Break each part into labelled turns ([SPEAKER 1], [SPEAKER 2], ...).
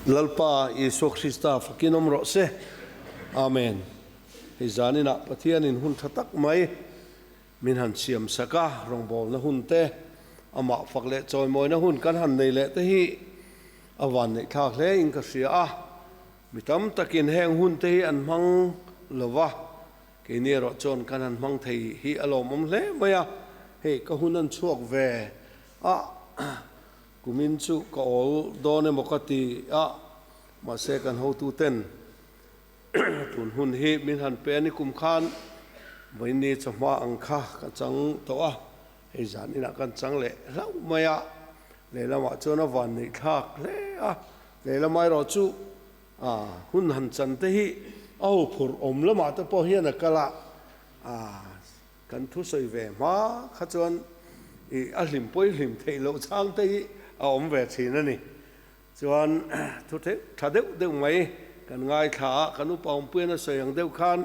[SPEAKER 1] Lalpa Isua Krista fakin awm rawh se. Amen. Hei zaninah Pathianin hun tha tak mai min han siam sak a, rawngbawlna hun te, Amah fak leh chawimawina hun kan han nei leh te hi a vanneithlak hle in ka hria a. Mi tam takin heng hun te hi an hmang lo va, keini erawh chuan kan han hmang thei hi a lawmawm hle mai a, hei ka hun an chhuak ve ah, Kumin chu ka awl dawn emaw ka ti a, mahse kan hotu ten tun hun hi min han pe an i kum khan Vaini chawhma ang kha ka chang tawh a, hei zan inah kan chang leh hlauh mai a, lehlamah chuan a van neih thlak hle a, lehlamah erawh chu ah hun han chan te hi a ho phurh awm lamah te pawh hian a kal a ah. Kan thusawi ve hma kha chuan i a hlim pawi hlim theih loh chang te hi a awm ve thin a ni. Chuan thu theih tha deuh deuh mai kan ngaithla a, kan upa awmpuiin a sawi ang deuh khan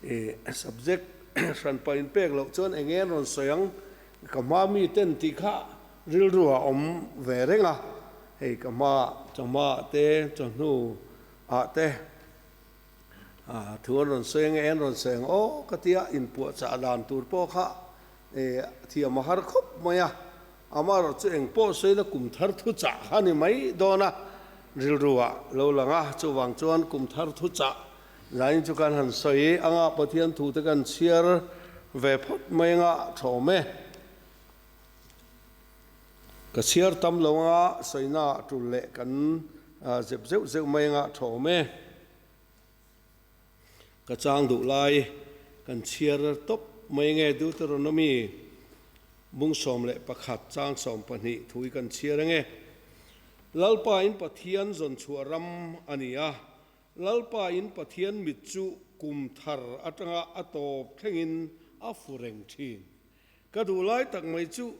[SPEAKER 1] i subject hran pawh in pek loh chuan enge an rawn sawi ang ka hma mi ten tih kha rilru a awm ve reng a, hei ka hma chawhma ah te chawhnu ah te. Thu an rawn sawi enge an rawn sa eng aw ka tia inpuahchah dan tur pawh kha thiam a har khawp mai a, ama erawh chu eng pawh sawi la kum thar thuchah kha a ni mai dawn a, rilru a lo lang a, chuvang chuan kum thar thuchah lain chu kan han sawi i anga Pathian thu te kan chhiar ve phawt mai anga thawm e. Ka chhiar tam lo anga Saina a tul leh kan zep zeuh zeuh mai anga thawm e. Ka chang duh lai kan chhiar tawp mai nge Deuteronomy bung sawm leh pakhat chang sawm pahnih thu hi kan chhiar enge? Lalpa in Pathian zawn chhuah ram a ni a, Lalpa in Pathian mit chu kum thar atanga a tawp thlengin a fu reng thin. Ka duh lai tak mai chu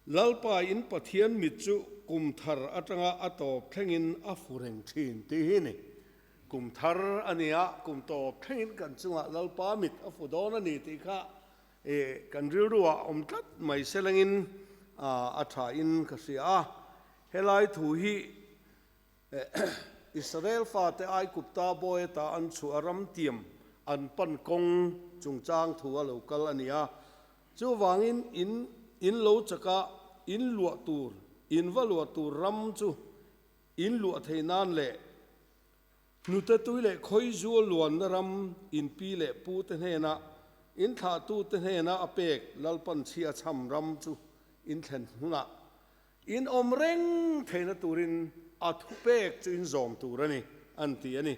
[SPEAKER 1] Lalpa in Pathian mit chu kum thar atanga a tawp thlengin a fu reng thin tih hi ni. Kum thar a nia, kum tawp thlengin kan chungah Lalpa mit a fu dawn a ni tih kha kan rilru ah awm tlat mai selengin a tha in ka hria a. Helai thu hi Israel fate Aikupta boweta an chhuah ram tiam an pan kawng chungchang thu a lo kal a ni a. Chuvangin in in lo chakah in luah tur, in va luah tur ram chu in luah thei nan leh hnute tui leh khawi zual luanna ram in pi leh pu te hnenah, in thlah tu te hnenah a pek lalpanchhia chham ram chu in thlen hunah In awm reng theihna turin a thupek chu in zawm tur a ni, an ti a ni.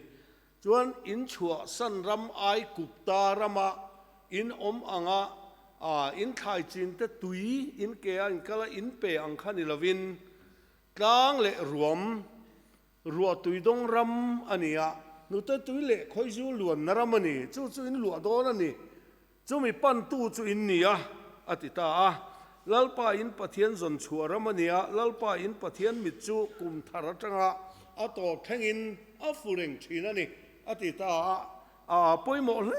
[SPEAKER 1] Chuan in chhuahsan ram ai Kupta rama in awm anga in thlaichhin te tui in ke a inkal a, in pe ang kha ni lovin tlang leh ruam Ruah tuidawng ram a ni a, hnute tui leh khawizu luanna ram a ni. Chu chu in luah dawn a ni. Chumi pantu chu in ni a, a ti ta a. Lalpa in Pathian zawn chhuah ram a nia, Lalpa in Pathian mit chu kum thar atanga a tawr thlengin a fu reng thin a ni, a ti ta a. Aaa, pawimawh hle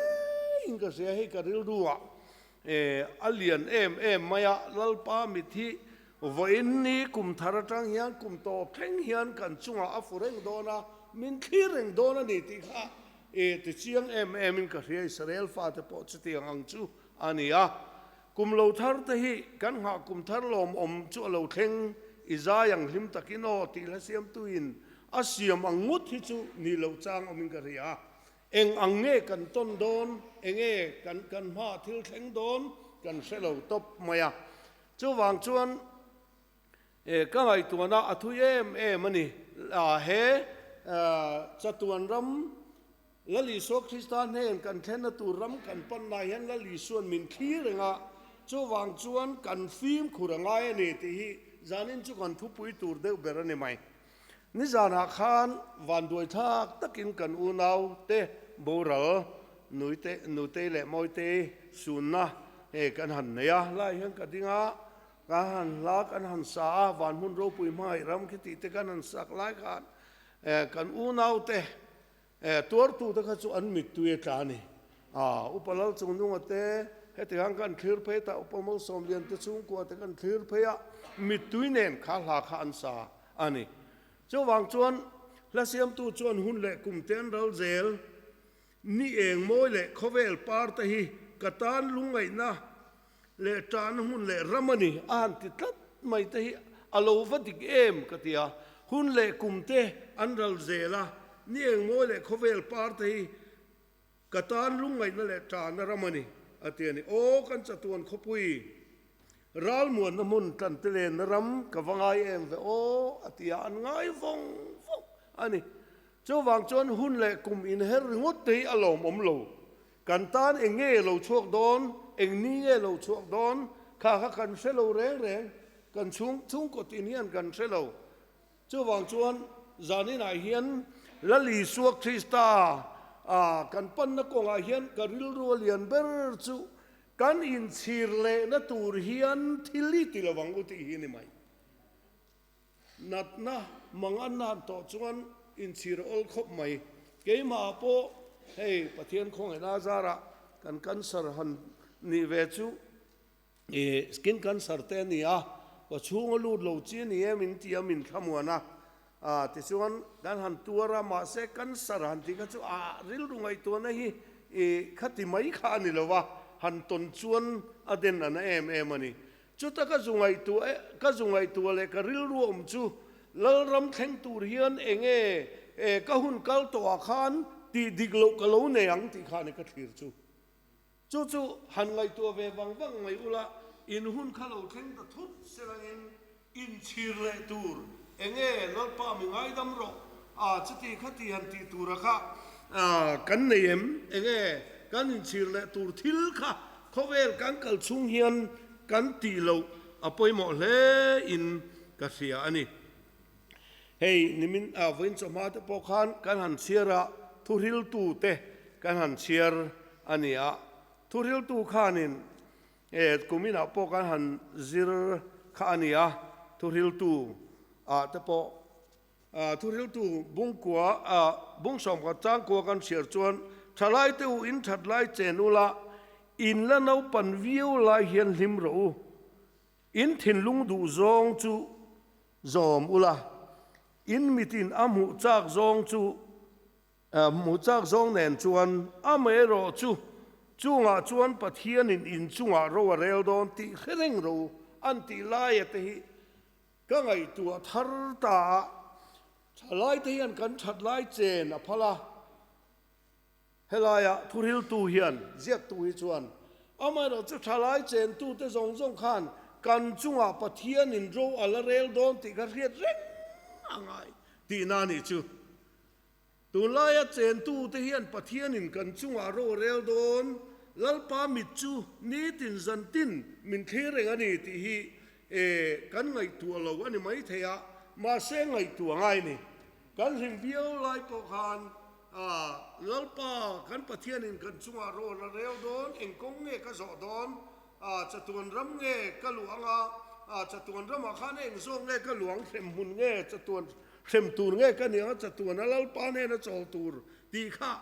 [SPEAKER 1] in ka hria hei ka rilru ah E, a lian em em mai a, Lalpa mit hi vawiin ni kum thar atang hian kum tawh thleng hian kan chungah a fu reng dawn a, min thlir reng dawn a ni tih kha e tichiang em em in ka hria, Israel fate pawh chutiang ang chu a ni a. Kum lo thar te hi kan nghah kum thar lawm awm chu a lo thleng, i zai ang hlim takin aw, tihlasiamtuin a siam ang ngawt hi chu nih loh chang awm in ka hria. Eng ang nge kan tawn dawn? Enge kan kan hma thil thleng dawn? Kan hre lo tawp mai a. Chuvang chuan e ka ngaihtuahna a thui em em a ni. He chatuan ram Lal Isua Krista hnên kan thlenna tur ram kan panna hian Lal Isuan min thli reng a, chuvang chuan kan fimkhur a ngai a ni tih hi zanin chu kan thupui tur deuh ber a ni mai. Nizanah khan vanduai thak takin kan unau te, boral, nuite, nutei leh mawitei sunna hei kan han nei a. Lai hian ka ding a, ka han hla kan han sa a, van hmun ropui hmangaih ram khi tih te kan han sak lai khan kan unau te Eh, tuartu te kha chu an mittui a tla a ni. Ah, Upa Lalchungnunga te, heti khan ka an thlir phei ta, Upa Mosomlian te chhungkua te ka an thlir phei a, mittui nen kha hla kha an sa a ni. Chuvang chuan hla siamtu chuan hun leh kum te an ral zel, ni eng mawi leh khawvel par te hi ka tan lungngaihna leh tana hun leh ram a ni a han ti tlat mai te hi a lo va dik em ka ti a, hun leh kum te an ral zel a, ni engmawi leh khawvel par te hi ka tan lungngaihna leh tana ram a ni a ti a ni. Aw kan chatuan khawpui ral muanna hmun tlante lenna ram ka va ngai em ve aw a ti a, an ngai vawng vawng a ni. Chuvang chuan hun leh kum inher ringawt te hi a lawmawm lo. Kan tan eng nge lo chhuak dawn, eng ni nge lo chhuak dawn kha kha kan hre lo reng reng, kan chhung chhungkawt in hian kan hre lo. Chuvang chuan zaninah hian Lal Isua Krista kan panna kawngah hian ka rilru lian ber chu kan inchhir lehna tur hian thil hi ti lovang u tih hi a ni mai. Natna mangatna an tawh chuan inchhir a awl khawp mai. Keimah pawh hei Pathian khawngaihnaa zarah kan cancer han nih ve chu ih skin cancer te a ni a, ka chhung a lut lo chi a ni em in tih a min thlamuan a. Ah tichuan kan han tuar a, mahse cancer han tih kha chu a rilru ngaihtuahna hi ih khati mai kha a ni lo va, han tawn chuan a den a na em em a ni. Chuta ka zu ngaihtuah e, ka zu ngaihtuah leh ka rilru awm chu Lalram thleng tur hian eng nge e ka hun kal tawh ah khan tih dik loh ka lo nei ang tih khan i ka thlir chu. Chu chu han ngaihtuah ve vang vang mai ula in hun kha lo thleng ta thut sel angin in chhir leh tur eng nge Lalpa mi ngaidam rawh a chuti kha tih han tih tur ah kha kan nei em eng nge kan in chhir leh tur thil kha Khawvel kan kal chung hian kan tih loh a pawimawh hle in ka hria a ni. Hei nimin ah vawiin chawhma te pawh khan kan han chhiar a, thuhriltu te kan han chhiar a ni a. Thuhriltu khan in eh kumin ah pawh kan han zir kha a ni a, thuhriltu ah te pawh Thuhriltu bungkua a bung sawmkhat changkua kan chhiar chuan thalaite u in that lai chen ula, in la naupan viau lai hian hlim rawh u, in thinlung duh zawng chu zawm ula, in mitin a hmuh chak zawng chu hmuh chak zawng nen chuan amaherawh chu chungah chuan Pathianin in chungah ro a rel dawn tih hre reng rawh u, an tih laia te hi. Ka ngaihtuah thar ta a, thalaite hian kan that lai chen a phal a. Helai a thuriltu hian ziaktu hi chuan, Amaherawh chu thalai chen tute zawng zawng khan kan chungah Pathianin ro a la rel dawn tih ka hriat reng a ngai tihna a nih chu. Tunlaia chentute hian Pathianin kan chungah rawhrel dawn, Lalpa mit chu nitin zan tin min thlir reng a ni tih hi kan ngaihtuah lo a ni maithei a, mahse ngaihtuah ngai ni. Kan hlim viau lai pawh khan Lalpa kan Pathianin kan chungah rawhrel dawn, eng kawng nge ka zawh dawn, chatuan ram nge ka luang a, chatuan ramah khan eng zawk nge ka luang, hlemhmun nge chatuan Hrem tur nge ka nia, chatuana Lalpa nena chawl tur tih kha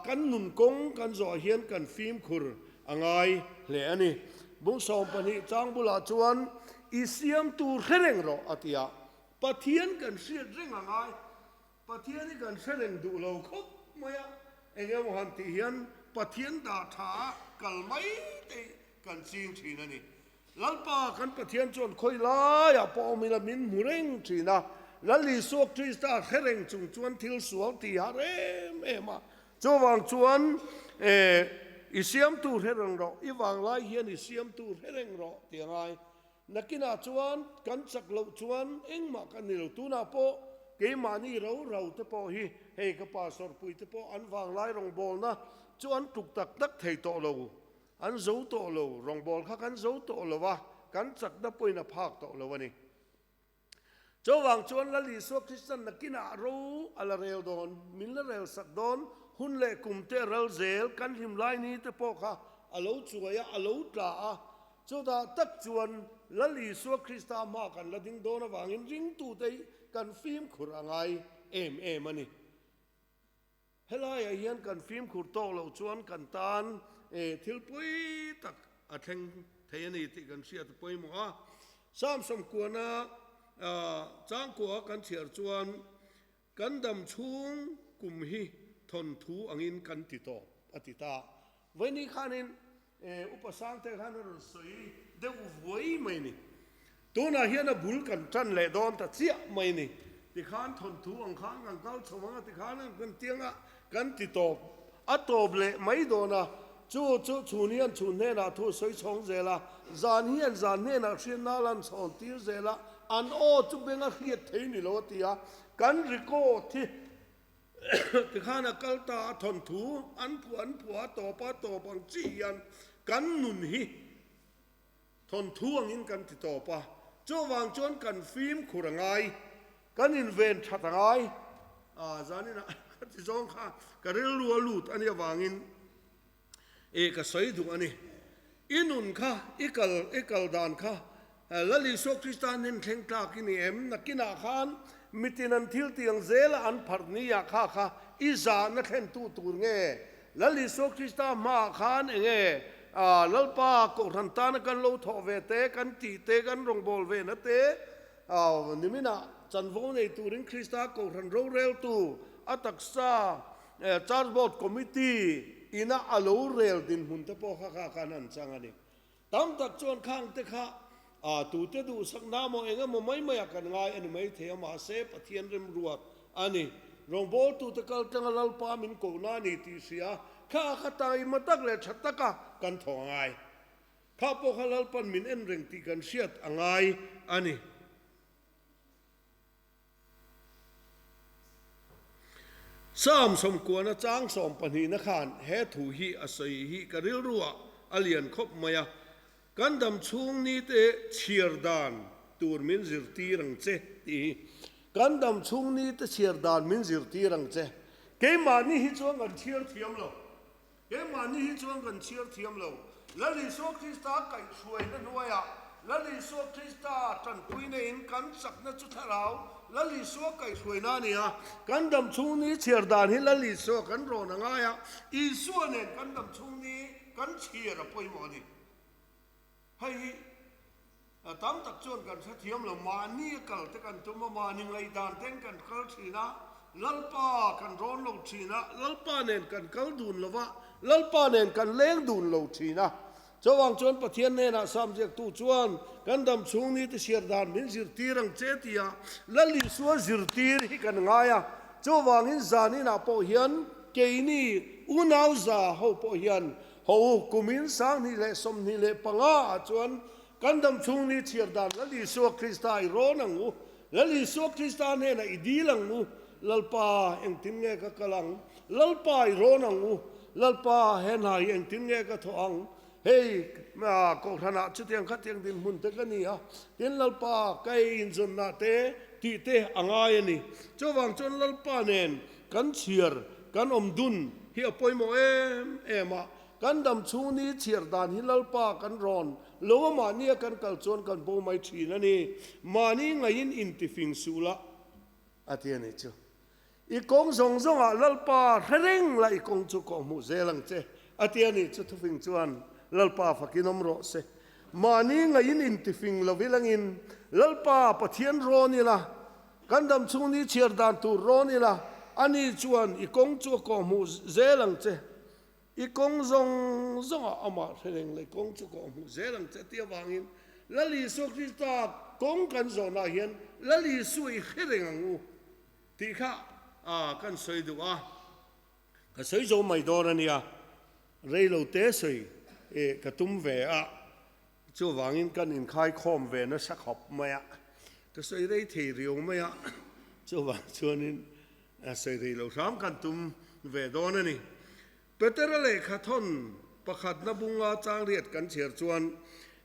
[SPEAKER 1] kan nun kawng kan zawh hian kan fimkhur a ngai hle a ni. Bung sawm pahnih chang bulah chuan, I siamtu hre reng rawh, a ti a. Pathian kan hriat reng a ngai. Pathian hi kan hre reng duh lo khawp mai a. Eng emaw han tih hian Pathian dah tha a kal maiteih kan ching thin a ni. Lalpa kan Pathian chuan khawi laiah pawh awm ila min hmu reng thin a, Lal Isua Krista thlereng chung chuan thil sual ti hah rem em a. Chuvang chuan, Eeh, i siamtu thlereng rawh, i vanglai hian i siamtu thlereng rawh ti a ngai. Nakinah chuan kan chak loh chuan engmah ka nilo tunah pawh keimahni roro te pawh hi hei ka pastor puite pawh an vanglai rawngbawlna chu an tluk tak tak thei tawh lo. An zo tawh lo, rawngbâwl kha kan zo tawh lo a, kan chakna point a phâk tawh lo a ni. Chuvâng chuan Lal Isua Kristian na kinah ro a la rêl dawn, min la rêl sak dawn, hun leh kum te a ral zêl, kan hlim lai ni te pawh kha a lo chuai a, a lo tla a. Chutah tak chuan Lal Isua Krista hma kan la ding dawn avângin ringtute hi kan fîmkhur a ngai êm êm a ni. Helaiah hian kan fimkhur tawk loh chuan kan tan thil pawi tak a thleng thei a ni tih kan hriat pawimawh a. Salm sawmkuana changkuaha kan chhiar chuan, Kan dam chhung kum hi thawnthu angin kan ti tawp, a ti ta. Vaini khanin E, upa Sangte khan a rawn sawi deuh vuai mai ni. Tunah hian a bul kan tan leh dawn ta chiah mai ni. Tikhan thawnthu ang khan kan kal chho ang a, tikhan ang kan tiang a, kan ti tawp. A tawp leh mai dawn a, chu chu chhun hian chhun hnenah thu sawi chhawng zel a, zan hian zan hnenah hriatna lan chhawn tir zel a, an aw chu beng a hriat thei ni lo a ti a, kan record hi. Tikhan a kal ta a thawn thu an phuah an phuah a tawp a tawp ang chi hian kan nun hi thawn thu angin kan ti tawp a, chuvang chuan kan fim khur a ngai, kan inven that a ngai, zanin a kha ti zawng kha ka rilru a lut a nih avangin E ka sawi duh a ni. I nun kha, i kal, i kal dan kha Lal Isua Krista an en thleng tlak i ni em? Nakinah khan mitin an thil tiang zela an pharh ni ah kha kha i zah na thlentu tur nge? Lal Isua Krista hmaah khan enge Lalpa Kohhran tana kan lo thawh ve te, kan ti te, kan rawngbâwl ve na te? Niminah chanvo nei turin Krista Kohhran roreltu a taksa Transport Committee ina a lo rel dinhmun te pawh kha kha khan an chang a ni. Tam tak chuan khang te kha tute duhsakna maw eng emaw mai mai ah kan ngai a ni maithei a mahse Pathian remruat a ni. Rawngbawltute kal tlenga Lalpa min kohna a ni tih hria kha kha tang i hma tak leh tha taka kan thawh a ngai. Kha pawh kha Lalpan min en reng tih kan hriat a ngai a ni. Salm sawmkuana chang sawm pahnihna khan he thu hi a sawi hi ka rilruah a lian khawp mai a, kan dam chhung nite chhiar dan tur min zirtir ang che tih hi. Kan dam chhung nite chhiar dan min zirtir ang che. Keimahni hi chuan kan chhiar thiam lo. Keimahni hi chuan kan chhiar thiam lo. Lal Isua Krista a kaih hruaina hnuaiah Lal Isua Krista tanpuina in kan chakna chu thlarau Lal Isua kaih hruaina a ni a. Kan dam chhungni chhiar dan hi Lal Isua kan rawn a ngai a, Isua nen kan dam chhungni kan chhiar a pawimawh a ni. Hei hi a tam tak chuan kan hre thiam lo, mahni a kal te kan tum a, mahni ngaidan ten kan kal thin a, Lalpa kan rawn lo thin a, Lalpa nen kan kal dun lo va, Lalpa nen kan leng dun lo thin a. Chuvang chuan Pathian hnenah Salm ziaktu chuan, Kan dam chhung ni te siar dan min zirtir ang che tia Lal Isua zirtir hi kan ngai a. Chuvangin zaninah pawh hian keini unauza ho pawh hian Haw u, kum in sang hnih leh sawm hnih leh panga ah chuan kan dam chhung ni chhiar dan Lal Isua Krista i rawn ang u, Lal Isua Krista hnenah i dil ang u, Lalpa, engtin nge ka kal ang? Lalpa, i rawn ang u, Lalpa, he hna hi engtin nge ka thawh ang? Hei kohhran ah chutiang kha tiang dinhmun te ka ni a, tin Lalpa, ka ei inzawnna te tih te a ngai a ni. Chuvang chuan Lalpa nen Kan chhiar, kan awm dun hi a pawimawh em em a. Kan dam chhungni chhiar dan hi Lalpa kan rawn lova mahni a kan kal chuan kan bo mai thin a ni. Mahni ngaiin intifing suh lah, a ti a nih chu. I kawng zawng zawngah Lalpa hre reng lah i kawng chu kawh hmuh zel ang che, a ti a nih chu. Thufing chuan, Lalpa fakin awm rawh se. Mahni ngaiin intifing lo vilangin Lalpa Pathian rawn ila Kan dam chhung ni chhiar dan tur rawn ila, ani chuan i kawng chu a kawhhmuh zel ang che. I kawng zawng zawngah amah hrengreng leh kawng chu a kawhhmuh zel ang che. Ti avangin Lal Isua Krista kawng kan zawnah hian Lal Isua i hre reng ang u tih kha kan sawi duh a, ka sawi zo mai dawn a nia, reilote sawi ka tum ve a. Chuvangin kan inkhai khawm ve nasa khawp mai a, ka sawi rei thei riau mai a, chuvang chuanin sawi rei lo hram kan tum ve dawn a ni. Petera lehkha thawn pakhatna bunga changriat kan chhiar chuan,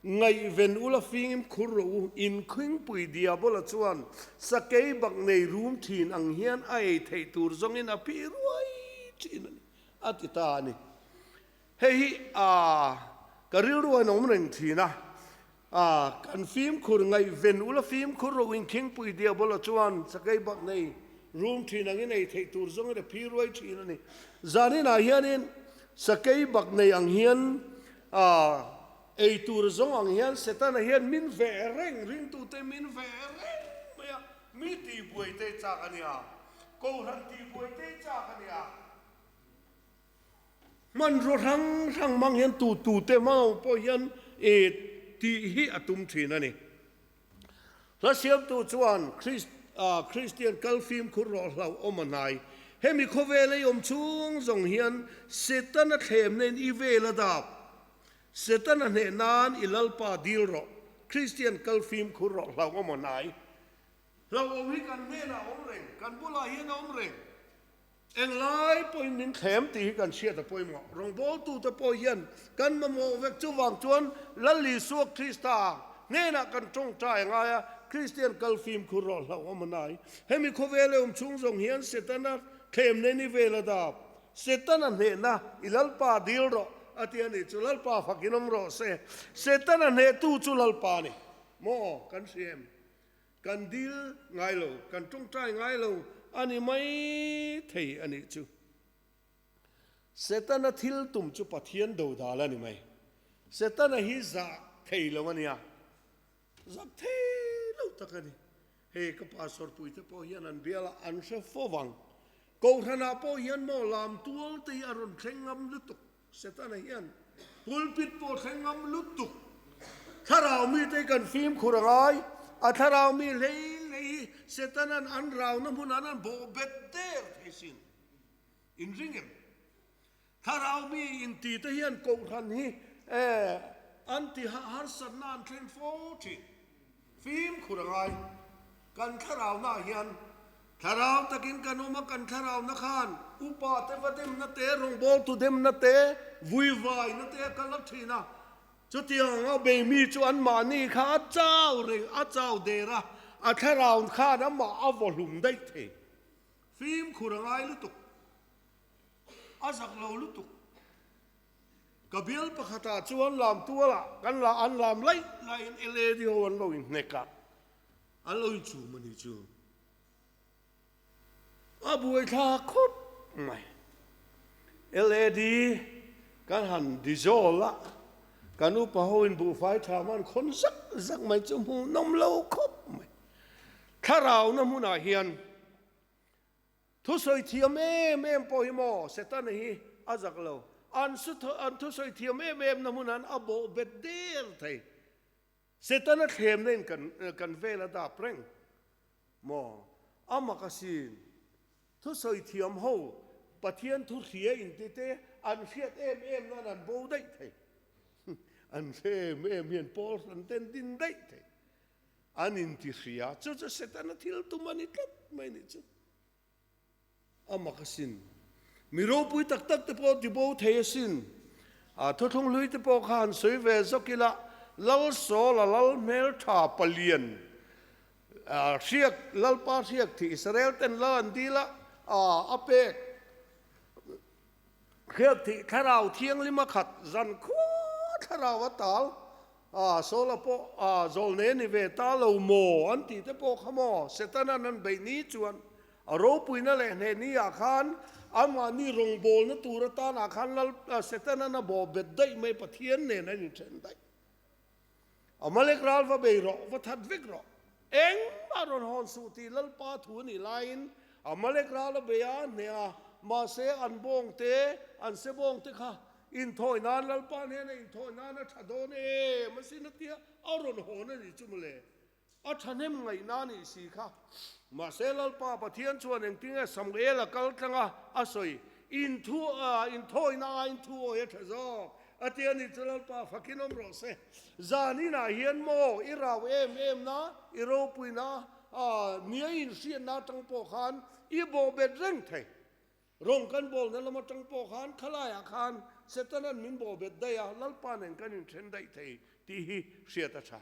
[SPEAKER 1] Ngaihven ula fingin mkhur ro u, inkhingpui Diabola chuan sakei bak nei rum thin ang hian a ei theih tur zawngin a pi ruai thin a ni, a ti ta a ni. Hei hi ka rilru a nawm reng thin a, kan fimkhur ngaihven ula fimkhur ro inkengpui Diabolo chuan Sakei bak nei rum thin ang i nei theih tur zawngin a phi ruai thin a ni. Zanin ah hianin Sakei bak nei ang hian ei tur zawng ang hian Setana hian min ve reng ringtute min ve reng mai a, mi tihbuaite chak a nia, kohhran tihbuaite chak a nia. Hmanrua hrang hrang hmang hian tu tu te mau pawh hian e tih hi a tum thin a ni. Hla siamtu chuan Christ, Christian kal fim khur rawh hlauh awm a hnai. Hemi khawvel ei awm chhung zawng hian Setana thlem nen i vel a dap. Setana hneh nan i lalpa dil rawh, Christian kal fim khur rawh hlauh awm a hnai. Hlauh awm hi kan hnenah a awm reng, kan bulah hian a awm reng. Eng lai pawhin min thlem tih hi kan hriat a pawimawh. Rawngbawltute pawh hian kan mamawh vek chuvang chuan Lal Isua Krista hnenah kan ṭawngṭai a ngai a, Kristian kal fimkhur rawh hlauh a man ai. Hemi khawvel eawm chhung zawng hian Setana thlem nen i vel a dap. Setana hnehna, I Lalpa dil rawh, a ti a ni. Chu Lalpa fakin awm rawh se. Setana hnehtu chu Lalpa a ni maw? Kan hria em? Kan dil ngai lo, kan tawngtai ngai lo a ni mai thei a nih chu. Setana thil tum chu Pathian do dal a ni mai. Setana hi zah thei lo a nia, zak thei lo tak a ni. Hei ka pa Sawrpuii te pawh hian an bial a, an hre fo vang. Kohhranah pawh hian maw lam tual te hi a rawn thleng ngam lutuk. Setana hian pulpit pawh thleng ngam lutuk. Thlarau mite kan fim khur a ngai. A thlarau mi hleilei hi Setana'n an rauna hmun an an bawh bet der thei sin. In ring em? Thlarau mi inti te hian kohhran hi an ti hah harsatna an thleng fo thin. Fimkhur a ngai. Kan thlarau hnaah hian thlarau takin kan awm a, kan thlarau na khan. Upa te va demna te, rawngbawr tu demna te, vuivaina te a kal rawk thin a. Chutiang ang a, Beimi chu anmahni kha a chau reng, a chau der a, a thlarau khan amah a vawhlum daih thei. Fimkhur a ngai lutuk, a zak lo lutuk. Ka bial pakhatah chuan lam tualah kan la an lam laih laiin Eladio an lo inhnek a, a lo inchum a nih chu. A buaithla khawp mai. Eladi kan han di zawl a, kan upa ho in buhfai tha man khawn zak zak mai chu hmuhnawm lo khawp mai. Thlarau na hmunah hian Thusawi thiam em em pawh hi maw Setana hi a zak lo. An su an thusawi thiam em em na hmun han a bawh bet der thei. Setana thlemna in kan kan vel a dap reng maw? Amakasin, thusawi thiam ho Pathian thu hria in ti te an hriat em em nan an bo daih thei. An hre em em hian Paul hran ten din daih thei. An intihria chu chu Setana thil tum a ni tlat mai nih chu. Amakasin, mi ropui tak tak te pawh tibo thei asin. A thuthlung hlui te pawh kha han sawi ve zawk ila, Lalsawl a lal hmeltha palian hriak, Lalpa hriak thih Israel ten lal an dil a, a pek. Hriat thih thlarau thianglima khat zan khuaa thlarau a tal a sawla pawh a zawl nei a ni ve ta lo maw an tih te pawh kha maw Setana nan beih ni chuan a ropuina leh hnehni ah khan amahni rawngbawlna tur atan ah khan Lal Setana na bawh bet daih mai Pathian nen a inthen daih. Amalek ral va bei rawh, va that vek rawh. Engmah rawn hawn suh tih Lalpa thu a nih laiin Amalek ral a bei a hne a. Mahse, an bawng te, an sebawng te kha inthawi nan Lalpa hnena inthawi nan a tha dawn em a si na tia a rawn hawn a ni chu mawle. A thahnem ngaihna a nih si kha. Mahse, Lalpa Pathian chuan engtinge Samuel a kal tlang a, a sawi, I inthu, in thawina aiin thu awi a tha zawk. A ti a ni chu, Lalpa, fakin awm rawh se. Zan inah hian maw i rau em emna, i ropuina, nia i inhriatna atang pawh khan i bawhbet reng thei. Rawng kan bawlna lam atang pawh khan khalaiah khan Setana'n min bawhbet daih a, Lalpa nen kan inthen daih thei tih hi hriat a tha.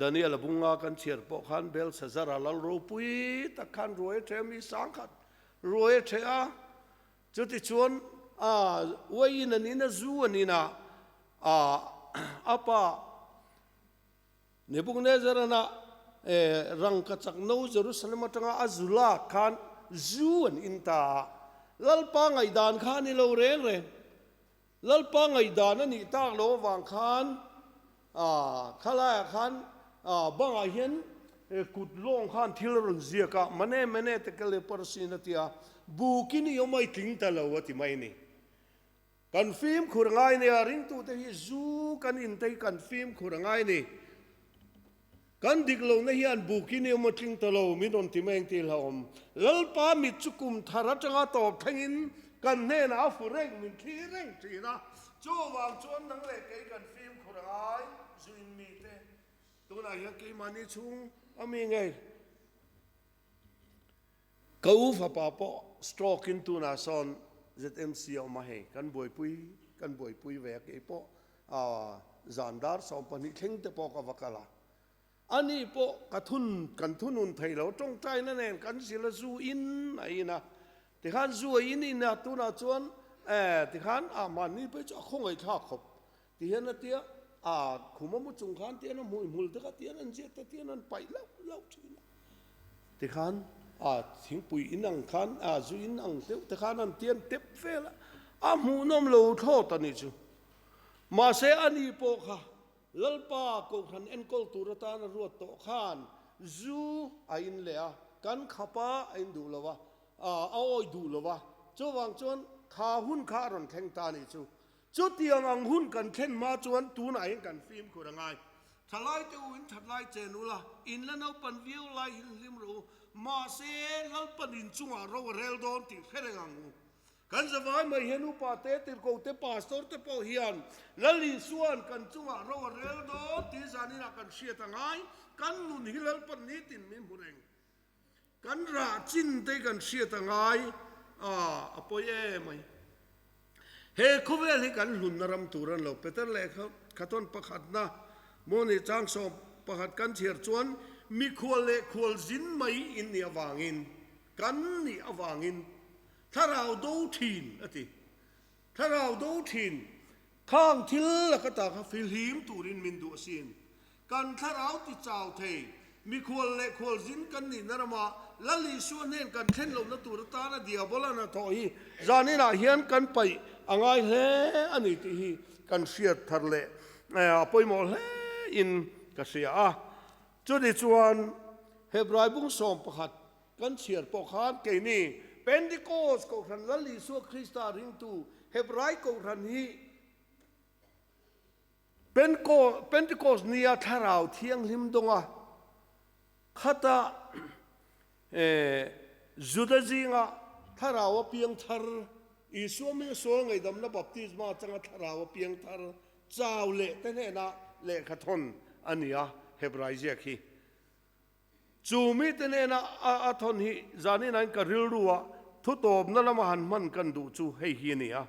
[SPEAKER 1] Daniel a bunga kan chhiar pawh khan Belsazara lal ropui tak khan ruai a ṭhe a, mi sang khat ruai a ṭhe a. Chutichuan a uaiin a nina zu a nina a pa Nebuknezarana rangkachakno Jerusalem aṭanga a zu lak khan zu an in ta a. Lalpa ngaihdan kha a ni lo reng reng. Lalpa ngaihdan a nih tak lo avang khan Khalaiah khan bangah hian kut lawng khan thil a rawn ziak a, Mane, mane te kal e Parsin a ti a, buk i ni awmai tling ta lo a ti mai ni. Kan fimkhur a ngai nia, ringtute hi zu kan intei kan fimkhur a ngai ni. Kan dik lo na hian buk in emaw tling ta lo min rawn ti mai ang tih hlauhawm. Lalpa mit chu kum thar atanga tawp thleng in kan hnenah a fu reng min thli reng thin a. Chuvang chuan nang leh kei kan fimkhur a ngai, zuin mi te. Tunah hian keimahni chhung a mi ngei. Ka u fapa pawh stroke in tunah sawn ZMC a awm a hei, kan buaipui kan buaipui ve a, kei pawh a zan dar sawm pahnih thleng te pawh ka va kal a, ani pawh ka thun kan thunun thei lo, tawngtaina nen kan zil a zu in a in a, tikhan zu a in in a tunah chuan eh tikhan ah mahni pawh hi chu a khawngaih thlak khawp Ti hian a ti a, a khum a mu chung khan ti hian a hmuih hmul dek a, ti hian an ziak te ti hian an paih lauh lauh thin a. Tikhan a thingpui in ang khan, a zui in ang deuh te khan an tian tep vel a, a hmuhnawm lo thlawt a nih chu. Mahse a ni pawh kha Lalpa Kohhran enkawl tur atan a ruat tawh khan zu a in leh a, kan khapa a in duh lo a, a awi duh lo a, chuvang chuan kha hun kha a rawn thleng ta a nih chu. Chutiang ang hun kan thlen hma chuan tunah hian kan fimkhur a ngai. Thalaite uin thatlai chen ula, in la naupan viau lai hi hlim rawh u, mahse lalpan in chungah ro a rel dawn tih hre reng ang u. Kan zavai mai hian upa te, tirhkoh te, pastor te pawh hian Lal Isua'n kan chungah ro a rel dawn tih zaninah kan hriat a ngai, kan nun hi lalpan nitin min hmu reng. Kan rah chin te kan hriat a ngai a, a pawi e mai. He khawvel hi kan hlunna ram tur an lo peter leh kha, kha tawn pakhatna Mawhnih chang sawm pakhat kan chhiar chuan mi khual leh khual zin mai in nih avangin, kan nih avangin thlarau do thin a ti. Thlarau do thin, khang thil la ka ta kha fil him turin min duh asin. Kan thlarau ti chau thei, mikhual leh khualzin kan nihna rama Lal Isua nen kan thlen lohna tur atana Diabol an a thawh hi zanin ah hian kan paih a ngai hle a ni tih hi kan hriat thar leh a pawimawh hle in ka hria a. Chutichuan Hebraibung sawm pakhat Kan chhiar pawh khan keini Pentecost Kohhran Lal Isua Krista ringtu Hebrai Kohhran hi Pentecost nia Thlarau Thianghlim dawnga khata Juda zinga Thlarau a piang thar, Isua hming sual ngaihdamna Baptisma atanga Thlarau a piang thar chau leh te hnena lehkha thawn a nia Hebrai ziak hi. Chu mite nena a thawn hi zaninain ka rilru a, thutawpna lama han hman kan duh chu hei hi a ni a.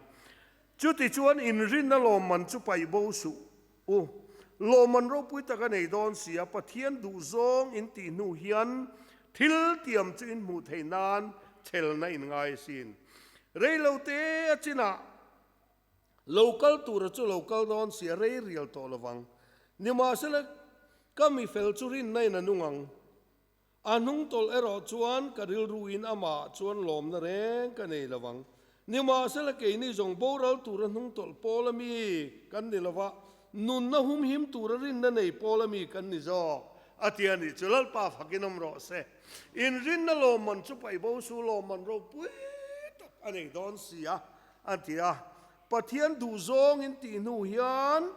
[SPEAKER 1] Chuti chuan inrinna lawmman chu paih bo suh u. Lawmman ropui taka nei dawn sia, Pathian duh zawng in tih hnu hian thil tiam chu in hmuh theih nan chhelna in ngai a sin. Reilote a chinah. Lo kal tura chu lo kal dawn si a rei rial tawh lo vang. Nimahsela, ka mi fel chu rinna in a nu ngang. A hnung tawlh erawh chuan ka rilru in amah chuan lawmna reng ka nei lo vang. Nimahsela, keini zawng boral tura hnung tawlh pawla mi kan ni lo va, nunna humhim tura rinna nei pawla mi kan ni zawk, a ti a nih chu. Lalpa fak in awm rawh se. In rinna lawmman chu paibo su lawmman ropui tak a nei dawn si a, A ti a. Pathian duhzawng in tih hnu hian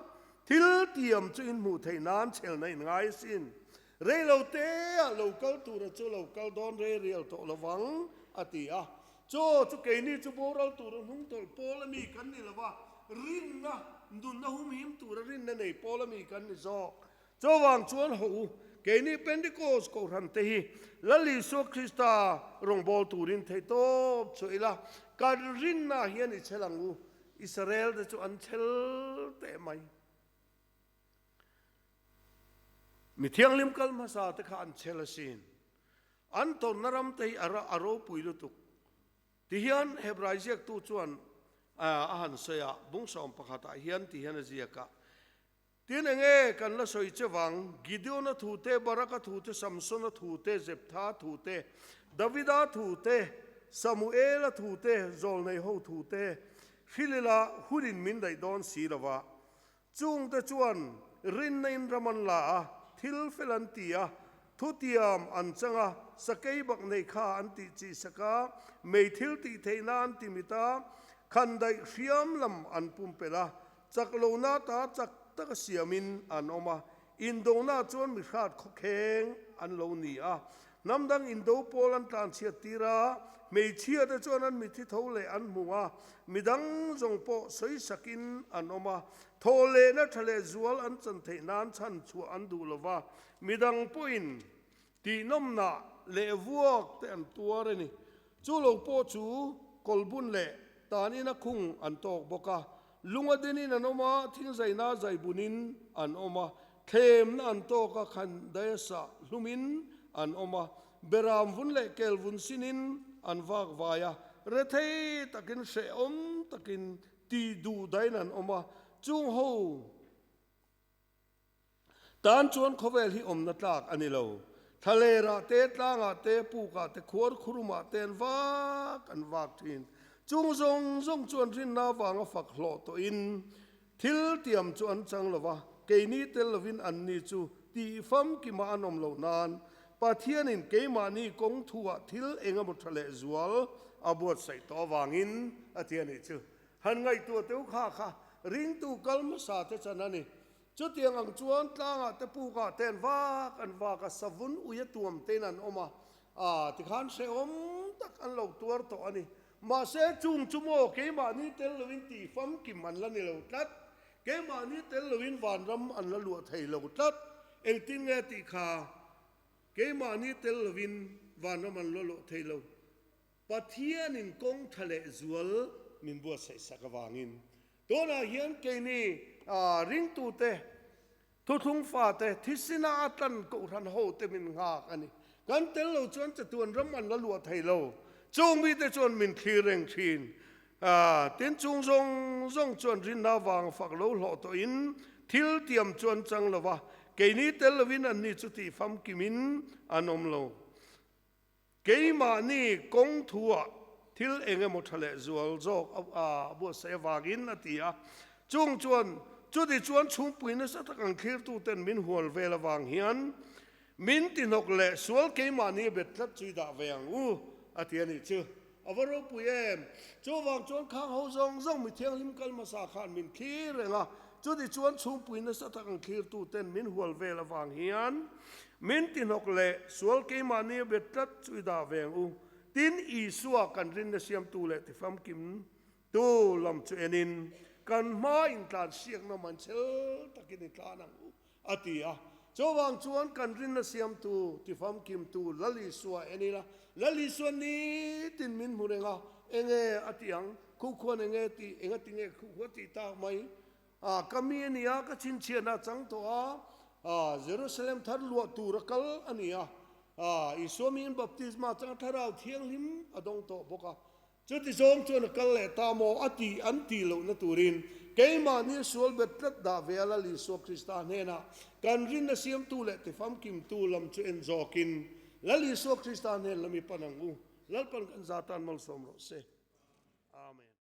[SPEAKER 1] thil tiam chu in hmuh theih nan chhelna in ngai a sin. Reilo te ah lo kal tur a chu lo kal dawn re rial tawh lo vang, a ti a. Chaw chu keini chu boral tur a hnung tawlh pawl a mi kan ni lo va, rinna, nunna humhim tur a rinna nei pawl a mi kan ni zawk. Chuvang chuan hawh u, keini Pentecost kohhran te hi Lal Isua Krista rawngbâwl turin thei tâwp chuah ila, kan rinna hian i chhel ang u. Israel te chu an chhel teh mai. Mi thianghlim kal hmasa te kha an chhel asin. An tawnna ram te hi a ropui lutuk. Ti hian Hebrai ziaktu chuan a han sawi a, Bungsawm pakhatah hian ti hian a ziak a, Tin, enge kan la sawi che vang? Gideona thute, Baraka thute, Samsona thute, Jeptha thute, Davida thute, Samuela thute, zawlneiho thute, thil ila hunin min daih dawn si lo a. Chungte chuan rinna in ram an la a, thil fel an ti a, thutiam an chang a, sakei bak nei kha an tih chih sak a, mei thil tih theihna an ti mit a, khan daih hriam lam an pumpelh a, Chak lohna ta chak taka siamin an awm a, indonaah chuan mi hrat khawkheng an lo ni a. Hnam dang indo pawl an tlanchhiat tir a, hmeichhia te chuan an mithi tho leh an hmu a, mi dang zawng pawh sawi sakin an awm a, thawh lehna tha leh zual an chan theih nan chhan chhuah an duh lo va, mi dang pawhin Tihnawmna leh vuak te an tuar a ni. Chu lo pawh chu kawlbun leh tan ina khung an tawk bawk a. Lung a den in an awm a, thing zaina zai bun in an awm a. Thlemna an tawk a, khan dayasa hlum in an awm a. Beram vun leh kel vun sin in an vak vai a. Rethei tak in hrehawm tak in ti duh dahin an awm a. Chungho. Tan chuan khawvel hi awmna tlak a ni lo. Thalerah te, tlangah te, pukah te, khuar khurumah te an vak an vak thin. Chung zawng zawng chuan rinna avanga fak hlawh tawhin thil tiam chu an chang lo va, keini tel lovin anni chu tih famkim ah an awm lo nan Pathianin keimahni kawng thu ah thil engemaw tha leh zual a buatsaih tawh avangin a ti a nih chu. Han ngaihtuah teu kha kha ringtu kal hmasa te chan a ni. Chutiang ang chuan tlangah te pukah te an vak an vak a, savun uia tuam tein an awm a, ah ti khan hrehawm tak an lo tuar tawh a ni. Mahse, chung chu maw keimahni tel loin ti famkim an la ni lo tlat, keimahni tel loin vanram an la luah thei lo tlat. Engtin nge tih kha keimahni tel loin vanram an la luah thei lo? Pathianin kawng tha leh zual min buatsaih sak avangin, tunah hian keini ringtute, thuthlung fate, thisina a tlan kohhran hote min nghak a ni. Kan tel lo chuan chatuan ram an la luah thei lo. Chung mite chuan min thlir reng thin. Tin, chung zawng zawng chuan rinna avanga fak lo hlawh tawhin thil tiam chuan chang lova, keini tel lovin anni chu tih famkimin an awm lo. Keimahni kawng thuah thil eng emaw tha leh zual zawk a buatsaih avangin a ti a, chung chuan chutih chuan chhungpui nasa tak ang thirtu ten min hual vel avang hian min tihnawk leh sual keimahni bet tlat chu i dah ve ang u a ti a nih chu. A va ropui em? Chu avang chuan khang ho zawng zawng mi thianghlim kal hmasa khan min thlir reng a, chutih chuan chhungpui nasa tak ang thirtu ten min hual vel avang hian Min tihnawk leh sual keimahni a be tlat chu i dah veng u, tin Isua kan rinna siamtu leh tifamkim tu lam chu en in kan hma intlan siakna man chel takin i tlan ang u a ti a. Chuvang chuan kan rinna siamtu, tifamkim tu Lal Isua en ila, Lal Isua ni tin min hmu reng a, enge a tih ang? Khuhkhuan enge ti, engatinge ka khuhkhuh a tih tak mai? A ka mi a nia, ka chhinchhiahna a chang tawh a, a Jerusalem thar luah tur a kal a nia, a Isua miin baptisma chang Thlarau Thianghlim a dawng tawh bawk a, chuti zawng chuan a kal leh ta maw a tih an ti lohna turin keimahni sual bet tlat dah ve a lal Isua Krista hnenah kan rinna siamtu leh tifamkimtu lam chu en zawkin lal Isua Krista hnenla mi pan ang u, lalpan kan za tan malsawm rawh se. Amen.